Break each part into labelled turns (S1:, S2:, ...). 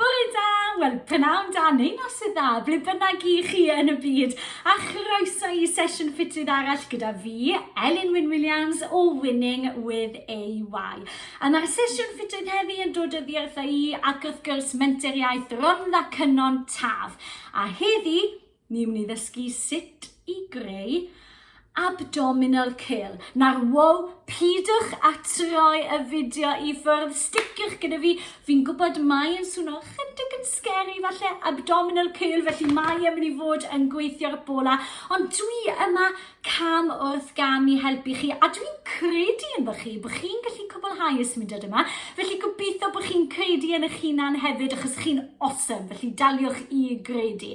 S1: Bore da! Wel, pnawn da neu noson dda, ble bynnag i chi yn y byd, a chroeso i sesiwn ffitrwydd arall gyda fi, Elin Wyn Williams o Winning with AY. A mae'r sesiwn ffitrwydd heddi yn dod o ddiarth i ac wrth gwrs menteriaeth Rhondda Cynon Taf. A heddi, Ni wn i ddysgu sut i greu abdominal curl. Na'r wow, pidwch a troi y fideo i ffwrdd, sticiwch gyda fi. Fi'n gwybod mae yn swno chydig yn scary falle abdominal curl, felly mae yn mynd i fod yn gweithio'r bola. Ond dwi yma cam wrth gam i helpu chi, a dwi'n credu yn bych chi, bod chi'n gallu cwblhau y symudiad yma. Felly gobeithio bod chi'n credu yn eich hunan hefyd, achos chi'n awesome, felly daliwch i gredu.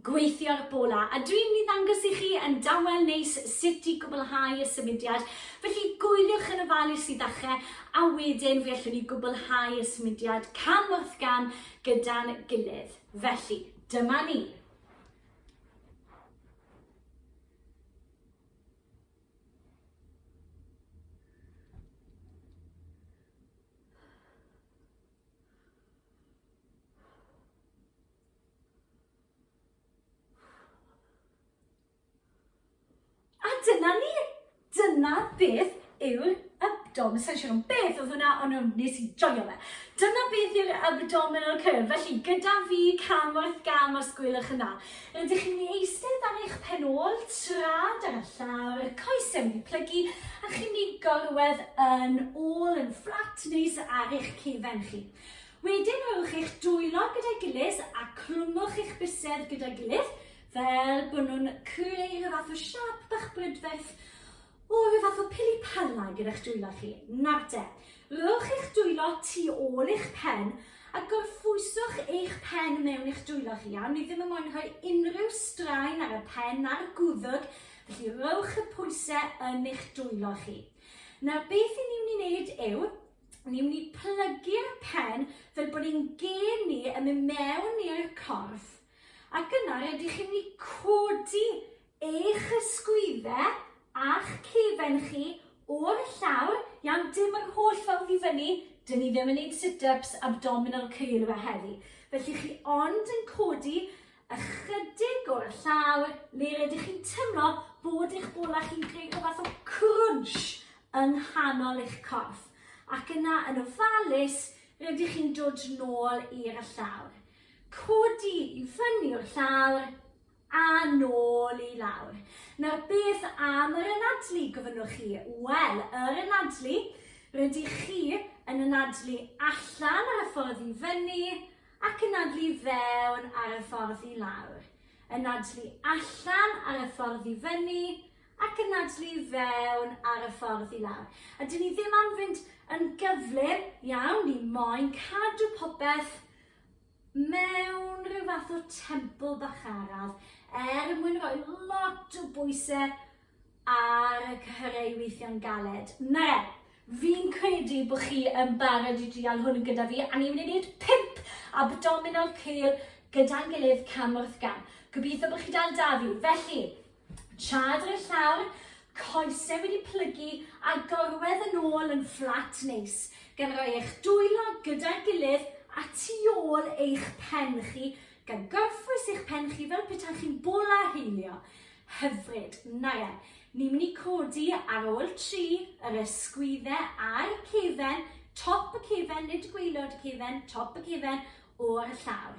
S1: gweithio'r bola a dwi'n mynd i ddangos i chi yn dawel neis sut i gwblhau y symudiad. Felly gwyliwch yn ofalus i ddechrau a wedyn fe allwn ni gwblhau y symudiad cam wrth gam gyda'n gilydd. Felly, dyma ni. A dyna ni! Dyna beth yw'r abdomen, sa'n siŵr ond beth oedd hwnna, ond nhw, nes i joio fe. Dyna beth yw'r abdominal curve, felly gyda fi cam wrth gam os gwylwch yn dda. Rydych chi'n mynd i eistedd ar eich pen ôl, trad ar y llawr, coesau wedi plygu, a chi'n mynd i gorwedd yn ôl yn fflat neis ar eich cefen chi. Wedyn rhowch eich dwylo gyda'i gilydd a clwmwch eich bysedd gyda'i gilydd fel bod nhw'n creu rhyw fath o siap bach brydferth o rhyw fath o pili pala gyda'ch dwylo chi. Nawr te, rhowch eich dwylo tu ôl eich pen a gorffwyswch eich pen mewn i'ch dwylo chi. Iawn, ni ddim yn moyn rhoi unrhyw straen ar y pen na'r gwddwg, felly rhowch y pwysau yn eich dwylo chi. Nawr beth i ni'n mynd i wneud yw Ni'n mynd i plygu'r pen fel bod ein gên ni yn mynd mewn i'r corff. Ac yna, rydych chi'n mynd i codi eich ysgwyddau a'ch cefen chi o'r llawr. Iawn, dim yr holl ffordd i fyny. Dyn ni ddim yn neud sit-ups, abdominal curl a heddi. Felly chi ond yn codi ychydig o'r llawr le rydych chi'n teimlo bod eich bola chi'n creu rhyw fath o crunch yng nghanol eich corff, ac yna yn ofalus rydych chi'n dod nôl i'r y llawr. Codi i fyny o'r llawr a nôl i lawr. Nawr beth am yr anadlu, gofynnwch chi? Wel, yr anadlu, rydych chi yn anadlu allan ar y ffordd i fyny ac anadlu fewn ar y ffordd i lawr. Anadlu allan ar y ffordd i fyny ac yn nadlu i fewn ar y ffordd i lawr. A dyn ni ddim am fynd yn gyflym iawn, ni moyn cadw popeth mewn rhyw fath o templ bach araf er mwyn rhoi lot o bwysau ar y cyhyrau weithio'n galed. Na re, fi'n credu bod chi yn barod i drial hwn gyda fi a ni wedi gwneud pimp abdominal curl gyda'n gilydd cam wrth gam. Gobeithio bod chi dal da fi. Felly, Tra dros y llawr, coesau wedi plygu a gorwedd yn ôl yn fflat neis, gan roi eich dwylo gyda'r gilydd a tu ôl eich pen chi, gan gorffwys eich pen chi fel petaech chi'n bola heilio. Hyfryd, na ia. Ni'n mynd i codi ar ôl tri, yr ysgwyddau a'r cefen, top y cefen, nid gwaelod y cefen, top y cefen, o'r llawr.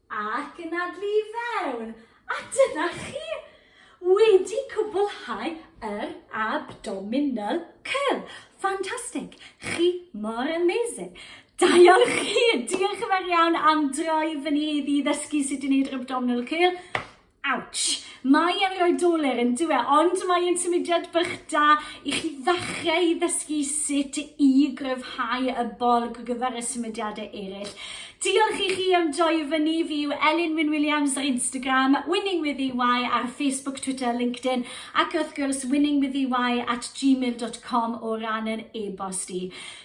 S1: Ac yn adlu i fewn. A dyna chi! Wedi cwblhau yr abdominal curl. Fantastic! Chi mor amazing! Diolch chi! Diolch yn fawr iawn am droi fyny heddi i ddysgu sut i wneud yr abdominal curl. Ouch! Mae e'n rhoi doler yn dyw e, ond mae e'n symudiad bach da i chi ddechrau i ddysgu sut i gryfhau y bolg ar gyfer y symudiadau eraill. Diolch i chi am joio fy ni, fi yw Elin Wyn Williams ar Instagram, Winning with EY ar Facebook, Twitter, LinkedIn ac wrth gwrs winningwithey at gmail.com o ran yr e-bost i.